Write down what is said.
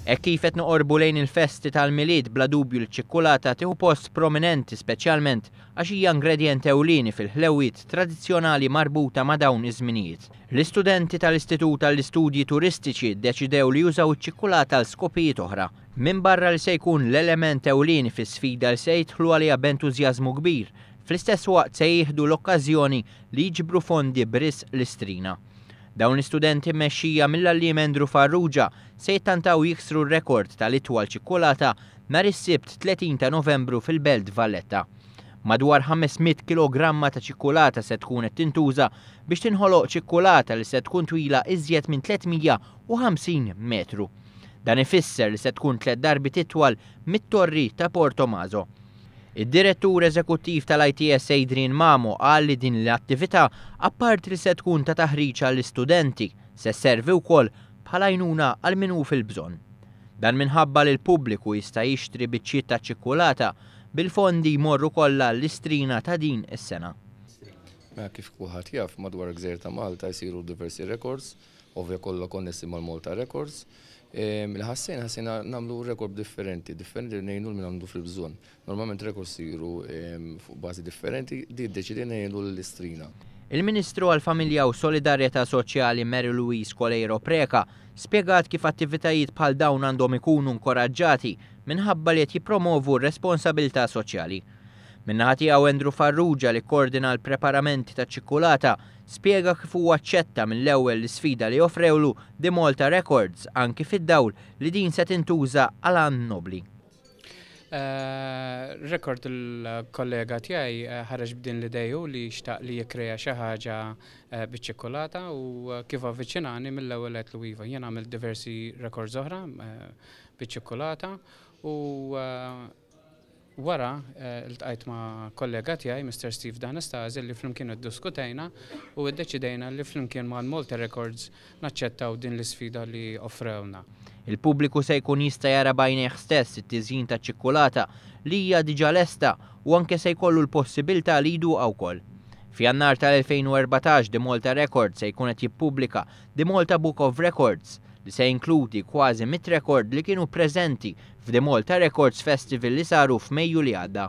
Hekk kif qed noqorbu lejn il-festi tal-Milied bla dubju li ċ-ċikkulata tieħu post prominenti speċjalment għax hija ingredjent ewlieni fil-ħlewwiet tradizzjonali marbuta ma' dawn iż-żminijiet. L-istudenti tal-Istitut għall-Istudji Turistiċi ddeċidew li jużaw iċ-ċikkulata għal skopijiet oħra. Minbarra li se jkun l-element ewlieni fis-sfida li se jidħlu għaliha b'entużjażmu kbir, fl-istess waqt se jieħdu l-okkażjoni li jiġbru fondi b'risq l-istrina. Dawn l-istudenti mmexxija mill-għalliem Andrew Farrugia se jittantaw jiksru r-rekord tal-itwal ċikkulata nhar is-Sibt 30 ta' Novembru fil-Belt Valletta. Madwar 500 kilogramma ta' ċikkulata se tkun qed tintuża biex tinħoloq ċikkulata li se tkun twila iżjed minn 350 metru. Dan ifisser li se tkun tliet darbiet itwal mit-Torri ta' Portomaso. Id-Direttur Eżekuttiv tal-ITS Adrian Mamo qal li din l-attività apparti li se tkun ta' taħriġ għall-istudenti, se sservi wkoll bħala għajnuna għal min hu fil-bżonn. Dan minħabba li l-pubbliku jista' jixtri biċċiet ta' ċikkulata bil-fondi jmorru kollha għall-Istrina ta' din is-sena. Kif kulħadd jaf, madwar il-gżejjer ta' Malta jsiru diversi rekords. ovvja kollha konnessi mal-Malta Records, li ħassejna, ħassejna nagħmlu rekord differenti, differenti li ngħinu lil min għandu fil-bżonn. Normalment rekords isiru fuq bażi differenti, din ddeċidejna ngħinu lill-istrina. Il-Ministru għall-Familja u Solidarjetà Soċjali Mary Louise Coleiro Preca spjegat kif attivitajiet bħal dawn għandhom ikunu nkoraġġati minħabba li qed jippromovu r-responsabilità soċjali. Min-naħa tiegħu Andrew Farrugia li kkoordina l-preparamenti taċ-ċikkulata, spjega kif huwa aċċetta mill-ewwel l-isfida li offrewlu The Malta Records anki fid-dawl li din se tintuża għal għan nobbli. Record il-kollega tiegħi ħareġ b'din l-idea hu li xtaq li jikkrea xi ħaġa biċ-ċikkulata u kif avviċinani mill-ewwel qed lu iva. Jien għamilt diversi records oħra biċ-ċikkulata u Wara, ltqajt ma' kollega tiegħi, Mister Steve D'Anastasi, li flimkien idduskutejna u iddeċidejna li flimkien mal-Malta Records naċċettaw din l-isfida li offrewlna. Il-pubbliku se jkun jista' jara b'għajnejh stess it-tiżjin taċ-ċikkulata li hija diġà lesta u anke se jkollu l-possibilità li jduqha wkoll. F'Jannar tal-2014 The Malta Records se jkun qed jippubblika The Malta Book of Records, li se jinkludi kważi mitt rekord li kienu preżenti f'The Malta Records Festival li saru f'Mejju li għadda.